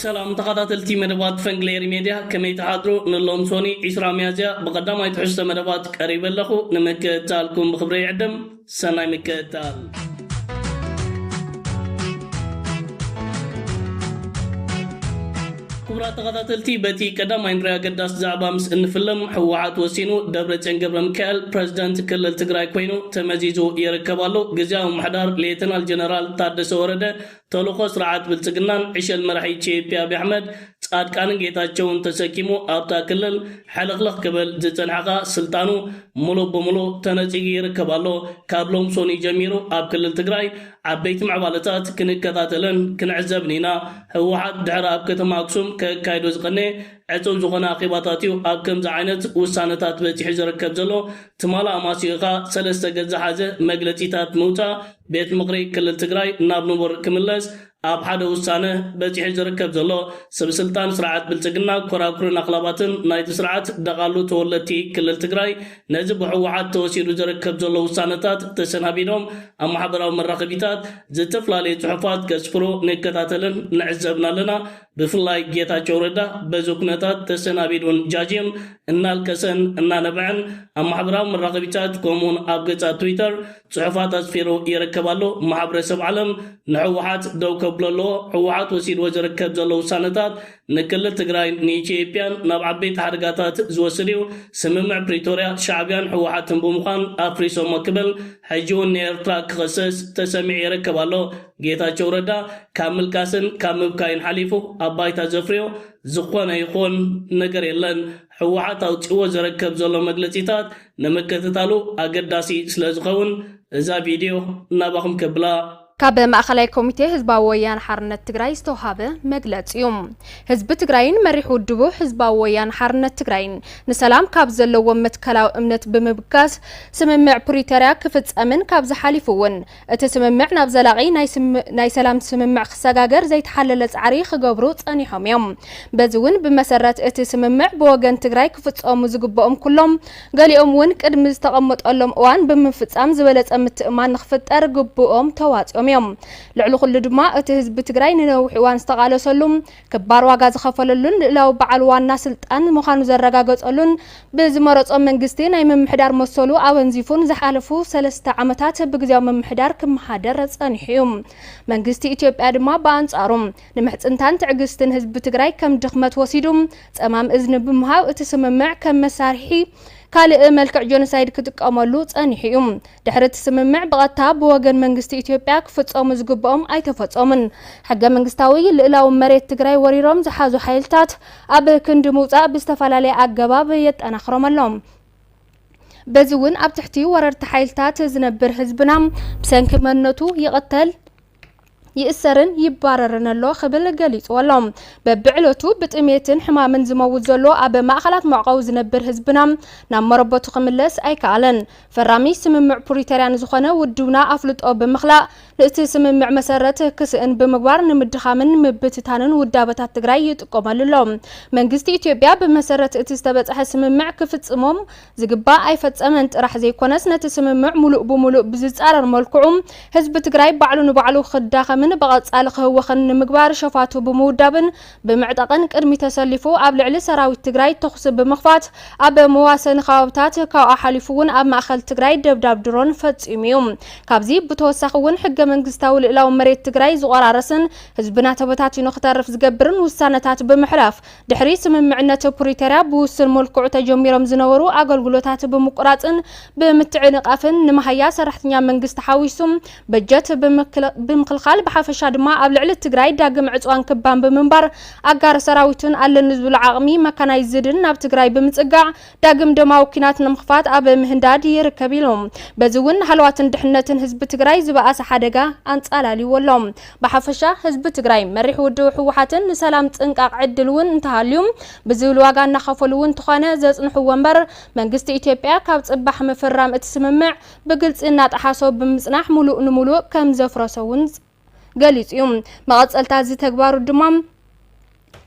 ሰላም ተኸታተልቲ መደባት ፈንግሌሪ ሜድያ ከመይ ትሓድሩ ንሎም ሶኒ 20 ሚያዝያ ብቐዳማይ ትሕዝቶ መደባት ቀሪበ ኣለኹ ንምክእታልኩም ብክብረ ይዕድም ሰናይ ምክእታል ክቡራት ተኸታተልቲ በቲ ቀዳማይ ንሪኦ ኣገዳሲ ዛዕባ ምስ እንፍልም ህወሓት ወሲኑ ደብረፅዮን ገብረሚካኤል ፕረዚደንት ክልል ትግራይ ኮይኑ ተመዚዙ ይርከብ ኣሎ። ግዝያዊ ምምሕዳር ሌተናል ጀነራል ታደሰ ወረደ ተልእኾ ስርዓት ብልፅግናን ዕሸል መራሒ ኢትዮጵያ ኣብይ ኣሕመድ፣ ፃድቃንን ጌታቸውን ተሰኪሙ ኣብታ ክልል ሕልኽልኽ ክብል ዝፀንሐ ከዓ ስልጣኑ ሙሉእ ብሙሉእ ተነፂጉ ይርከብ ኣሎ። ካብ ሎም ሰኑይ ጀሚሩ ኣብ ክልል ትግራይ ዓበይቲ ምዕባለታት ክንከታተልን ክንዕዘብን ኢና። ህወሓት ድሕሪ ኣብ ከተማ ኣክሱም ከካይዶ ዝቐነየ ዕጽው ዝኾነ ኣኼባታት እዩ ኣብ ከምዚ ዓይነት ውሳነታት በጺሑ ዝርከብ ዘሎ። ትማል ኣማስዩ እኻ ሰለስተ ገጽ ዝሓዘ መግለጺታት ምውጻእ ቤት ምኽሪ ክልል ትግራይ ናብ ንቡር ክምለስ ኣብ ሓደ ውሳነ በጺሑ ዝርከብ ዘሎ ስብስልጣን ስርዓት ብልጽግና ኮራኩርን ኣኽላባትን ናይቲ ስርዓት ደቓሉ ተወለድቲ ክልል ትግራይ ነዚ ብሕወሓት ተወሲዱ ዝርከብ ዘሎ ውሳነታት ተሰናቢዶም ኣብ ማሕበራዊ መራኸቢታት ዝተፍላለዩ ፅሑፋት ከስፍሩ ንከታተልን ንዕዘብን ኣለና። ብፍላይ ጌታቸው ረዳ በዚ ኩነታት ተሰናቢዱን ጃጅም እናልቀሰን እናነበዐን ኣብ ማሕበራዊ መራኸቢታት ከምኡ ውን ኣብ ገፃት ትዊተር ፅሑፋት ኣስፊሩ ይርከብ ኣሎ። ማሕብረሰብ ዓለም ንሕወሓት ደው ከብሎ ኣለዎ። ሕወሓት ወሲድዎ ዝርከብ ዘሎ ውሳነታት ንክልል ትግራይን ንኢትዮጵያን ናብ ዓበይቲ ሓደጋታት ዝወስድ እዩ። ስምምዕ ፕሪቶርያ ሻዕቢያን ህወሓትን ብምዃን ኣፍሪሶሞ ክብል ሕጂ እውን ንኤርትራ ክኽሰስ ተሰሚዑ ይርከብ ኣሎ። ጌታቸው ረዳ ካብ ምልቃስን ካብ ምብካይን ሓሊፉ ኣብ ባይታ ዘፍርዮ ዝኾነ ይኹን ነገር የለን። ህወሓት ኣውጺእዎ ዘረከብ ዘሎ መግለጺታት ንምክትታሉ ኣገዳሲ ስለዝኸውን እዛ ቪድዮ ናባኹም ከብላ። ካብ ማእኸላይ ኮሚቴ ህዝባዊ ወያነ ሓርነት ትግራይ ዝተውሃበ መግለፂ ዩ። ህዝቢ ትግራይን መሪሕ ውድቡ ህዝባዊ ወያነ ሓርነት ትግራይን ንሰላም ካብ ዘለዎም መትከላዊ እምነት ብምብጋስ ስምምዕ ፕሪተርያ ክፍፀምን ካብዚ ሓሊፉ ውን እቲ ስምምዕ ናብ ዘላቒ ናይ ሰላም ስምምዕ ክሰጋገር ዘይተሓለለ ፃዕሪ ክገብሩ ፀኒሖም ዮም። በዚ ውን ብመሰረት እቲ ስምምዕ ብወገን ትግራይ ክፍፀሙ ዝግበኦም ኩሎም ገሊኦም እውን ቅድሚ ዝተቐመጠሎም እዋን ብምፍፃም ዝበለፀ ምትእምማን ንክፍጠር ግቡኦም ተዋፂኦም እዮም። ልዕሊ ኩሉ ድማ እቲ ህዝቢ ትግራይ ንነዊሕ እዋን ዝተቓለሰሉ፣ ክባር ዋጋ ዝኸፈለሉን ልእላዊ በዓል ዋና ስልጣን ምዃኑ ዘረጋገፀሉን ብዝመረፆ መንግስቲ ናይ ምምሕዳር መሰሉ ኣወንዚፉን ዝሓለፉ ሰለስተ ዓመታት ብግዝያዊ ምምሕዳር ክመሓደር ፀኒሑ እዩ። መንግስቲ ኢትዮጵያ ድማ ብኣንፃሩ ንምሕጽንታን ትዕግስትን ህዝቢ ትግራይ ከም ድኽመት ወሲዱ ጸማም እዝኒ ብምሃብ እቲ ስምምዕ ከም መሳርሒ ካልእ መልክዕ ጆኖሳይድ ክጥቀመሉ ጸኒሑ እዩ። ድሕሪ እቲ ስምምዕ ብቐጥታ ብወገን መንግስቲ ኢትዮጵያ ክፍጸሙ ዝግብኦም ኣይተፈጸሙን። ሕገ መንግስታዊ ልእላዊ መሬት ትግራይ ወሪሮም ዝሓዙ ሓይልታት ኣብ ክንዲ ምውጻእ ብዝተፈላለየ ኣገባብ የጠናኽሮም ኣሎ። በዚ እውን ኣብ ትሕቲ ወረርቲ ሓይልታት ዝነብር ህዝብና ብሰንኪ መንነቱ ይቕተል፣ ይእሰርን ይባረርን ኣሎ ክብል ገሊጽዎ ኣሎ። በብዕለቱ ብጥሜትን ሕማምን ዝመውት ዘሎ ኣብ ማእኸላት መዕቆቢ ዝነብር ህዝብና ናብ መረበቱ ክምለስ ኣይከኣለን። ፈራሚ ስምምዕ ፕሪቶርያ ንዝኾነ ውድብና ኣፍልጦ ብምኽላእ ንእቲ ስምምዕ መሰረት ክስእን ብምግባር ንምድኻምን ምብትታንን ውዳበታት ትግራይ ይጥቀመሉ ኣሎ። መንግስቲ ኢትዮጵያ ብመሰረት እቲ ዝተበጽሐ ስምምዕ ክፍጽሞም ዝግባእ ኣይፈፀመን ጥራሕ ዘይኮነስ ነቲ ስምምዕ ሙሉእ ብሙሉእ ብዝፃረር መልክዑ ህዝቢ ትግራይ ባዕሉ ንባዕሉ ክዳኸምን ብቐፃሊ ክህወኽን ንምግባር ሸፋቱ ብምውዳብን ብምዕጣቕን ቅድሚ ተሰሊፉ ኣብ ልዕሊ ሰራዊት ትግራይ ተኹሲ ብምኽፋት ኣብ መዋሰኒ ከባብታት ካብኡ ሓሊፉ እውን ኣብ ማእኸል ትግራይ ደብዳብ ድሮን ፈፂሙ እዩ። ካብዚ ብተወሳኺ እውን ሕገ መንግስታዊ ልእላዊ መሬት ትግራይ ዝቖራረስን ህዝብና ተበታቲኑ ክተርፍ ዝገብርን ውሳነታት ብምሕላፍ ድሕሪ ስምምዕነት ፕሪቶርያ ብውሱን መልክዑ ተጀሚሮም ዝነበሩ ኣገልግሎታት ብምቁራፅን ብምትዕንቓፍን ንመሃያ ሰራሕተኛ መንግስቲ ሓዊሱ በጀት ብምኽልኻል ብሓፈሻ ድማ ኣብ ልዕሊ ትግራይ ዳግም ዕፅዋን ክባን ብምንባር ኣጋር ሰራዊትን ኣለኒ ዝብሎ ዓቕሚ መካናይዝድን ናብ ትግራይ ብምፅጋዕ ዳግም ደማዊ ኲናት ንምኽፋት ኣብ ምህንዳድ ይርከብ ኢሉ። በዚ እውን ንሃለዋትን ድሕነትን ህዝቢ ትግራይ ዝበኣሰ ሓደጋ ኣንፃላልይዎ ኣሎ። ብሓፈሻ ህዝቢ ትግራይ መሪሕ ውድቡ ህወሓትን ንሰላም ፅንቃቕ ዕድል እውን እንተሃልዩ ብዝብል ዋጋ እናኸፈሉ እውን እንተኾነ ዘፅንሕዎ እምበር መንግስቲ ኢትዮጵያ ካብ ፅባሕ ምፍራም እቲ ስምምዕ ብግልፂ እናጠሓሶ ብምፅናሕ ሙሉእ ንሙሉእ ከምዘፍረሶ እውን ገሊፁ ዩ። መቐፀልታ እዚ ተግባሩ ድማ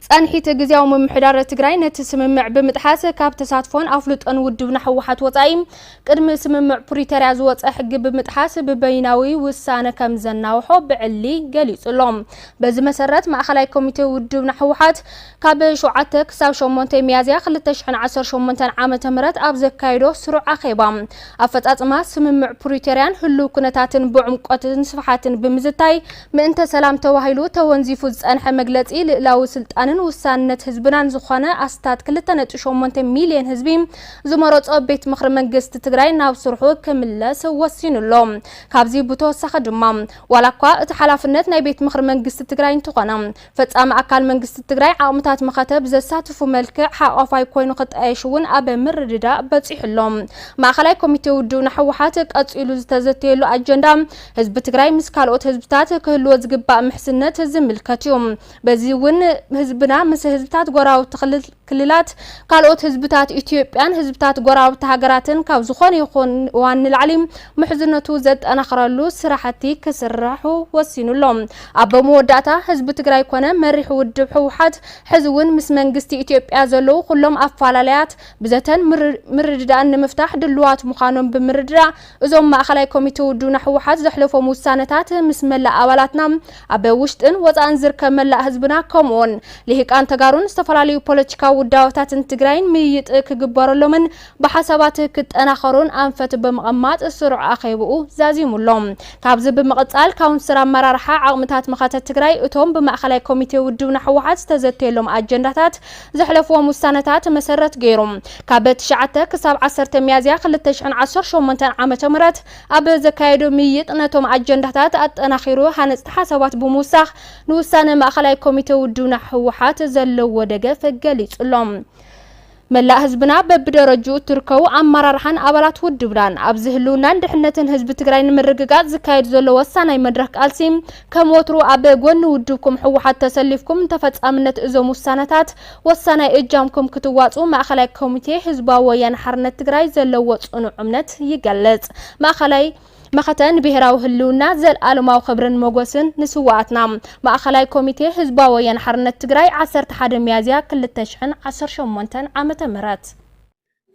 ፀንሒት ግዝያዊ ምምሕዳር ትግራይ ነቲ ስምምዕ ብምጥሓስ ካብ ተሳትፎን ኣፍልጦን ውድብና ህወሓት ወፃኢ ቅድሚ ስምምዕ ፕሪቶርያ ዝወፀ ሕጊ ብምጥሓስ ብበይናዊ ውሳነ ከም ዘናውሖ ብዕሊ ገሊፁ ኣሎ። በዚ መሰረት ማእኸላይ ኮሚቴ ውድብና ህወሓት ካብ ሸውዓተ ክሳብ ሸሞንተ ሚያዝያ ክልተ ሽሕን ዓሰርተ ሸሞንተን ዓመተ ምህረት ኣብ ዘካየዶ ስሩዕ ኣኼባ፣ ኣፈጻጽማ ስምምዕ ፕሪቶርያን ህሉው ኩነታትን ብዕምቆትን ስፍሓትን ብምዝታይ፣ ምእንተ ሰላም ተባሂሉ ተወንዚፉ ዝጸንሐ መግለጺ ልእላዊ ስልጣንን ውሳንነት ህዝብናን ዝኾነ ኣስታት ክልተ ነጥቢ ሸሞንተ ሚልዮን ህዝቢ ዝመረጾ ቤት ምኽሪ መንግስቲ ትግራይ ናብ ስርሑ ክምለስ ወሲኑ ኣሎ። ካብዚ ብተወሳኺ ድማ ዋላኳ እቲ ሓላፍነት ናይ ቤት ምኽሪ መንግስቲ ትግራይ እንተኾነ፣ ፈፃሚ ኣካል መንግስቲ ትግራይ ዓቕምታት መኸተ ብዘሳትፉ መልክዕ ሓቋፋይ ኮይኑ ክጣየሽ እውን ኣብ ምርድዳእ በፂሑ ኣሎ። ማእኸላይ ኮሚቴ ውድብና ህወሓት ቀፂሉ ዝተዘተየሉ ኣጀንዳ ህዝቢ ትግራይ ምስ ካልኦት ህዝብታት ክህልዎ ዝግባእ ምሕዝነት ዝምልከት እዩ። በዚ እውን ህዝብና ምስ ህዝብታት ጎረባብቲ ክልል ክልላት፣ ካልኦት ህዝብታት ኢትዮጵያን ህዝብታት ጎረባብቲ ሃገራትን ካብ ዝኾነ ይኹን እዋን ንላዕሊ ምሕዝነቱ ዘጠናኽረሉ ስራሕቲ ክስርሑ ወሲኑ ኣሎ። ኣብ መወዳእታ፣ ህዝቢ ትግራይ ኮነ መሪሕ ውድብ ህወሓት ሕዚ እውን ምስ መንግስቲ ኢትዮጵያ ዘለዉ ኩሎም ኣፈላላያት ብዘተን ምርድዳእን ንምፍታሕ ድሉዋት ምዃኖም ብምርድዳእ እዞም ማእኸላይ ኮሚቴ ውድብና ህወሓት ዘሕለፎም ውሳነታት ምስ መላእ ኣባላትና ኣብ ውሽጥን ወፃእን ዝርከብ መላእ ህዝብና ከምኡ ውን ልሂቃን ተጋሩን ዝተፈላለዩ ፖለቲካዊ ውዳበታትን ትግራይን ምይይጥ ክግበረሎምን ብሓሳባት ክጠናኸሩን ኣንፈት ብምቕማጥ ስሩዕ ኣኼብኡ ዛዚሙ ኣሎ። ካብዚ ብምቕፃል ካውንስል ኣመራርሓ ዓቕምታት መኸተ ትግራይ እቶም ብማእኸላይ ኮሚቴ ውድብና ህወሓት ዝተዘተየሎም ኣጀንዳታት ዘሕለፍዎም ውሳነታት መሰረት ገይሩ ካብ ትሽዓተ ክሳብ ዓሰርተ ሚያዝያ ክልተ ሽሕን ዓሰርተ ሸሞንተን ዓመተ ምህረት ኣብ ዘካየዶ ምይይጥ ነቶም ኣጀንዳታት ኣጠናኺሩ ሃነፅቲ ሓሳባት ብምውሳኽ ንውሳነ ማእኸላይ ኮሚቴ ውድብና ህወሓት ዘለዎ ደገፍ ገሊፁ ኣሎ። መላእ ህዝብና በብደረጅኡ እትርከቡ ኣመራርሓን ኣባላት ውድብናን ኣብዚ ህልውናን ድሕነትን ህዝቢ ትግራይ ንምርግጋፅ ዝካየድ ዘሎ ወሳናይ መድረኽ ቃልሲ ከም ወትሩ ኣብ ጎኒ ውድብኩም ህወሓት ተሰሊፍኩም ንተፈፃምነት እዞም ውሳነታት ወሳናይ እጃምኩም ክትዋፅኡ ማእኸላይ ኮሚቴ ህዝባዊ ወያነ ሓርነት ትግራይ ዘለዎ ፅኑዕ እምነት ይገልፅ። ማእኸላይ መኸተ ንብሄራዊ ህልውና ዘልኣለማዊ ኽብርን ሞጎስን ንስዋኣትና! ማእኸላይ ኮሚቴ ህዝባዊ ወያነ ሓርነት ትግራይ ዓሰርተ ሓደ ሚያዝያ ክልተ ሽሕን ዓሰርተ ሸሞንተን ዓመተ ምህረት።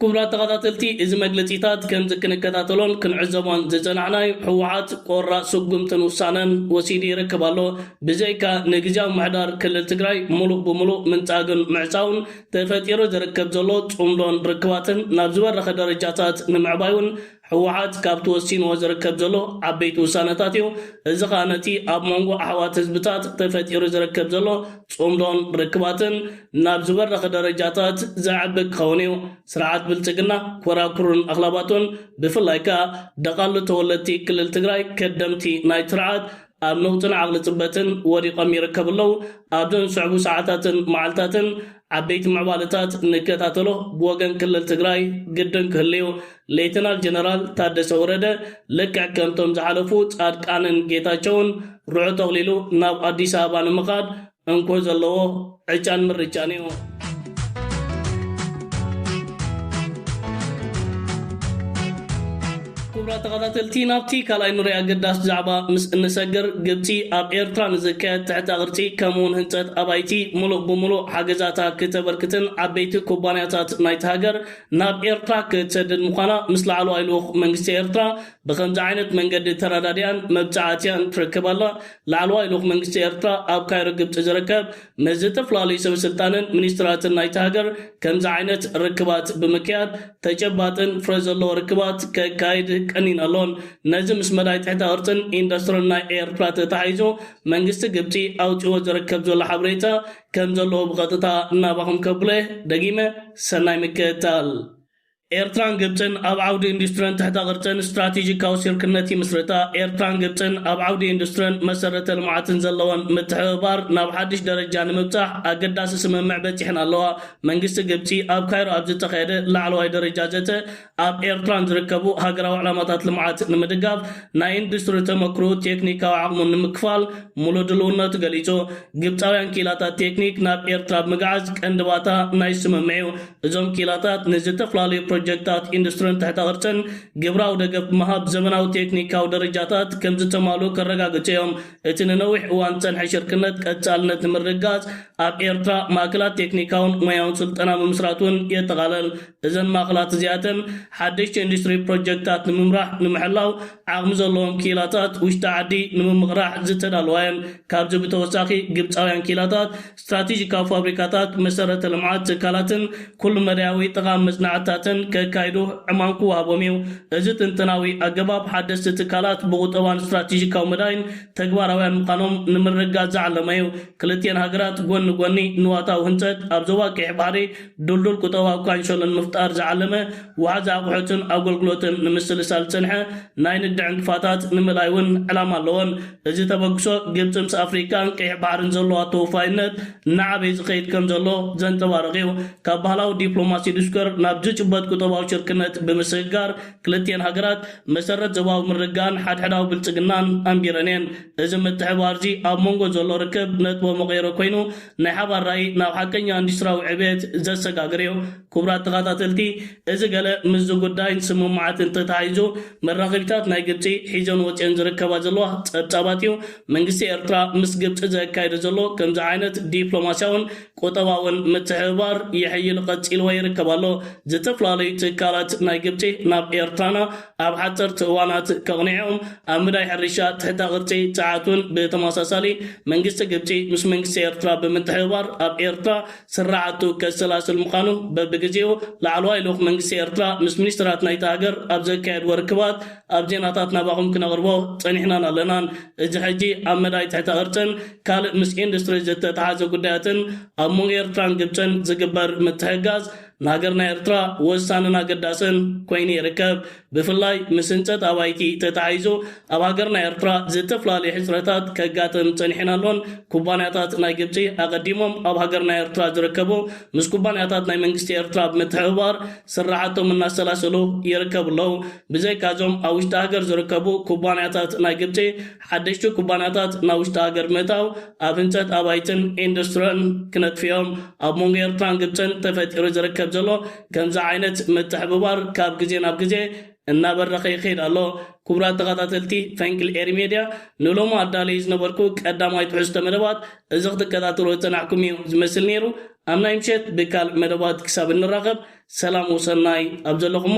ክቡራት ተኸታተልቲ እዚ መግለጺታት ከምዚ ክንከታተሎን ክንዕዘቦን ዝጸናዕናዩ ህወሓት ቆራፅ ስጉምትን ውሳነን ወሲዱ ይርክብ ኣሎ ብዘይካ ንግዝያዊ ምሕዳር ክልል ትግራይ ሙሉእ ብሙሉእ ምንጻግን ምዕጻውን ተፈጢሩ ዝርክብ ዘሎ ጹምዶን ርክባትን ናብ ዝበረኸ ደረጃታት ንምዕባይ ውን ህወሓት ካብቲ ወሲንዎ ዝርከብ ዘሎ ዓበይቲ ውሳነታት እዩ። እዚ ከኣ ነቲ ኣብ ሞንጎ ኣሕዋት ህዝብታት ተፈጢሩ ዝርከብ ዘሎ ጽምዶን ርክባትን ናብ ዝበረኸ ደረጃታት ዘዕቢ ክኸውን እዩ። ስርዓት ብልጽግና ኮራኩሩን ኣኽላባቱን ብፍላይ ከኣ ደቓሉ ተወለድቲ ክልል ትግራይ ከደምቲ ናይቲ ስርዓት ኣብ ነውጽን ዓቕሊ ጽበትን ወዲቐም ይርከቡ ኣለው። ኣብዘን ዝስዕቡ ሰዓታትን መዓልታትን ዓበይቲ ምዕባለታት ንከታተሎ ብወገን ክልል ትግራይ ግድን ክህሉ'ዩ። ሌተናል ጀነራል ታደሰ ወረደ ልክዕ ከምቶም ዝሓለፉ ጻድቃንን ጌታቸውን ርዑ ጠቕሊሉ ናብ ኣዲስ ኣበባ ንምኻድ እንኮ ዘለዎ ዕጫን ምርጫን እዩ። ክቡራት ተኸታተልቲ ናብቲ ካልኣይ ንሪኦ ኣገዳሲ ዛዕባ ምስ እንሰግር ግብፂ ኣብ ኤርትራ ንዝካየድ ትሕተ ቅርፂ ከምኡ እውን ህንፀት ኣባይቲ ሙሉእ ብሙሉእ ሓገዛታ ክተበርክትን ዓበይቲ ኩባንያታት ናይቲ ሃገር ናብ ኤርትራ ክትሰድድ ምዃና ምስ ላዕለዋይ ልኡኽ መንግስቲ ኤርትራ ብኸምዚ ዓይነት መንገዲ ተረዳዲኣን መብጽዓ ኣትያን ትረክብ ኣላ። ላዕለዋይ ልኡኽ መንግስቲ ኤርትራ ኣብ ካይሮ ግብጺ ዝርከብ ምስ ዝተፈላለዩ ሰበስልጣንን ሚኒስትራትን ናይታ ሃገር ከምዚ ዓይነት ርክባት ብምክያድ ተጨባጥን ፍረ ዘለዎ ርክባት ከካይድ ቀኒን ኣሎን። ነዚ ምስ መዳይ ትሕተ ቅርጽን ኢንዱስትርን ናይ ኤርትራ ተተሓሒዙ መንግስቲ ግብጺ ኣውጺእዎ ዝርከብ ዘሎ ሓበሬታ ከምዘለዎ ብቐጥታ ናባኹም ከብሎ እየ። ደጊመ ሰናይ ምክትታል። ኤርትራን ግብጽን ኣብ ዓውዲ ኢንዱስትርን ትሕተ ቅርጽን ስትራቴጂካዊ ሲርክነት ይምስርታ። ኤርትራን ግብጽን ኣብ ዓውዲ ኢንዱስትርን መሰረተ ልምዓትን ዘለወን ምትሕብባር ናብ ሓድሽ ደረጃ ንምብጻሕ ኣገዳሲ ስምምዕ በጺሐን ኣለዋ። መንግስቲ ግብጺ ኣብ ካይሮ ኣብ ዝተኻየደ ላዕለዋይ ደረጃ ዘተ ኣብ ኤርትራን ዝርከቡ ሃገራዊ ዕላማታት ልምዓት ንምድጋፍ ናይ ኢንዱስትሪ ተመክሮኡ ቴክኒካዊ ዓቕሙ ንምክፋል ሙሉእ ድልውነቱ ገሊጹ። ግብጻውያን ክኢላታት ቴክኒክ ናብ ኤርትራ ብምግዓዝ ቀንዲ ባታ ናይዚ ስምምዕ'ዩ። እዞም ክኢላታት ንዝተፍላለዩ ፕሮጀክታት ኢንዱስትርን ትሕተ ቅርጽን ግብራዊ ደገፍ ብምሃብ ዘመናዊ ቴክኒካዊ ደረጃታት ከምዝተማልኡ ከረጋግጹ እዮም። እቲ ንነዊሕ እዋን ዝጸንሐ ሽርክነት ቀጻልነት ንምርግጋጽ ኣብ ኤርትራ ማእከላት ቴክኒካውን ሞያውን ስልጠና ምምስራት እውን የጠቓልል። እዘን ማእከላት እዚኣተን ሓደሽቲ ኢንዱስትሪ ፕሮጀክታት ንምምራሕ ንምሕላው ዓቕሚ ዘለዎም ክኢላታት ውሽጢ ዓዲ ንምምቕራሕ ዝተዳለዋ እየን። ካብዚ ብተወሳኺ ግብጻውያን ክኢላታት ስትራቴጂካዊ ፋብሪካታት፣ መሰረተ ልምዓት ትካላትን ኩሉ መዳያዊ ጠቓሚ መፅናዕትታትን ከካይዱ ዕማም ክወሃቦም እዩ። እዚ ጥንጠናዊ ኣገባብ ሓደስቲ ትካላት ብቑጠባን ስትራቴጂካዊ መዳይን ተግባራውያን ምዃኖም ንምርግጋፅ ዝዓለመ እዩ። ክልቲኤን ሃገራት ጎኒ ንጎኒ ንዋታዊ ህንፀት ኣብ ዞባ ቀይሕ ባሕሪ ድልዱል ቁጠባዊ ካንሸሎ ንምፍጣር ዝዓለመ ወሓዚ ኣቑሑትን ኣጎልግሎትን ንምስልሳል ዝፀንሐ ናይ ንግዲ ዕንቅፋታት ንምእላይ እውን ዕላማ ኣለወን። እዚ ተበግሶ ግብጺ ምስ ኣፍሪቃን ቀይሕ ባሕርን ዘለዋ ተወፋይነት እናዓበየ ዝኸይድ ከምዘሎ ዘንጸባርቕ'ዩ። ካብ ባህላዊ ዲፕሎማሲ ዱስከር ናብ ዝጭበጥ ቁጠባዊ ሽርክነት ብምስግጋር ክልቲኤን ሃገራት መሰረት ዞባዊ ምርግጋእን ሓድሕዳዊ ብልጽግናን ኣንቢረን'የን። እዚ ምትሕብባር'ዚ ኣብ መንጎ ዘሎ ርክብ ነጥበ መቐይሮ ኮይኑ ናይ ሓባር ራኢ ናብ ሓቀኛ ኢንዱስትሪያዊ ዕብየት ዘሰጋግር'ዩ። ክቡራት ተኻታተልቲ እዚ ገለ ምስዚ ጉዳይን ስምምዓትን ተተሓሒዙ መራኸቢታት ናይ ግብጺ ሒዘን ወጺኤን ዝርከባ ዘለዋ ጸብጻባት እዩ። መንግስቲ ኤርትራ ምስ ግብጺ ዘካይዶ ዘሎ ከምዚ ዓይነት ዲፕሎማስያውን ቁጠባውን ምትሕብባር የሕይል ቐጺልዎ ይርከብ ኣሎ። ዝተፈላለዩ ትካላት ናይ ግብጺ ናብ ኤርትራና ኣብ ሓጸርቲ እዋናት ከቕንዔኦም ኣብ ምዳይ ሕርሻ ትሕተ ቕርጺ ጸዓትውን ብተመሳሳሊ መንግስቲ ግብጺ ምስ መንግስቲ ኤርትራ ብምትሕብባር ኣብ ኤርትራ ስርዓቱ ከሰላስል ምዃኑ በብግዜኡ ላዕለዋይ ልኡኽ መንግስቲ ኤርትራ ምስ ሚኒስተራት ናይታ ሃገር ኣብ ዘካየድዎ ርክባት ኣብ ዜናታት ናባኹም ክነቕርቦ ጸኒሕናን ኣለናን። እዚ ሕጂ ኣብ መዳይ ትሕተ ቅርጽን ካልእ ምስ ኢንዱስትሪ ዝተተሓሓዘ ጉዳያትን ኣብ መንጎ ኤርትራን ግብጽን ዝግበር ምትሕግጋዝ ንሃገርና ኤርትራ ወሳንን ኣገዳስን ኮይኑ ይርከብ። ብፍላይ ምስ ህንፀት ኣባይቲ ተተሓሒዞ ኣብ ሃገርና ኤርትራ ዝተፈላለዩ ሕፅረታት ከጋጥም ፀኒሕን ኣሎን። ኩባንያታት ናይ ግብፂ ኣቐዲሞም ኣብ ሃገርና ኤርትራ ዝርከቡ ምስ ኩባንያታት ናይ መንግስቲ ኤርትራ ብምትሕብባር ስራሕቶም እናሰላሰሉ ይርከቡ ኣለው። ብዘይካ እዞም ኣብ ውሽጢ ሃገር ዝርከቡ ኩባንያታት ናይ ግብፂ ሓደሽቲ ኩባንያታት ናብ ውሽጢ ሃገር ብምእታው ኣብ ህንፀት ኣባይትን ኢንዱስትርን ክነጥፉ እዮም። ኣብ መንጎ ኤርትራን ግብፅን ተፈጢሩ ዝርከብ ዘሎ ከምዚ ዓይነት ምትሕብባር ካብ ግዜ ናብ ግዜ እናበረኸ ይኸይድ ኣሎ። ኩቡራት ተኻታተልቲ ፈንቅል ኤሪ ሜድያ ንሎሚ ኣዳልየዩ ዝነበርኩ ቀዳማይ ትሕዝቶ መደባት እዚ ክትከታተልዎ ዝጸናሕኩም እዩ ዝመስል ነይሩ። ኣብ ናይ ምሸት ብካልእ መደባት ክሳብ እንራኸብ ሰላም ወሰናይ ኣብ ዘለኹሞ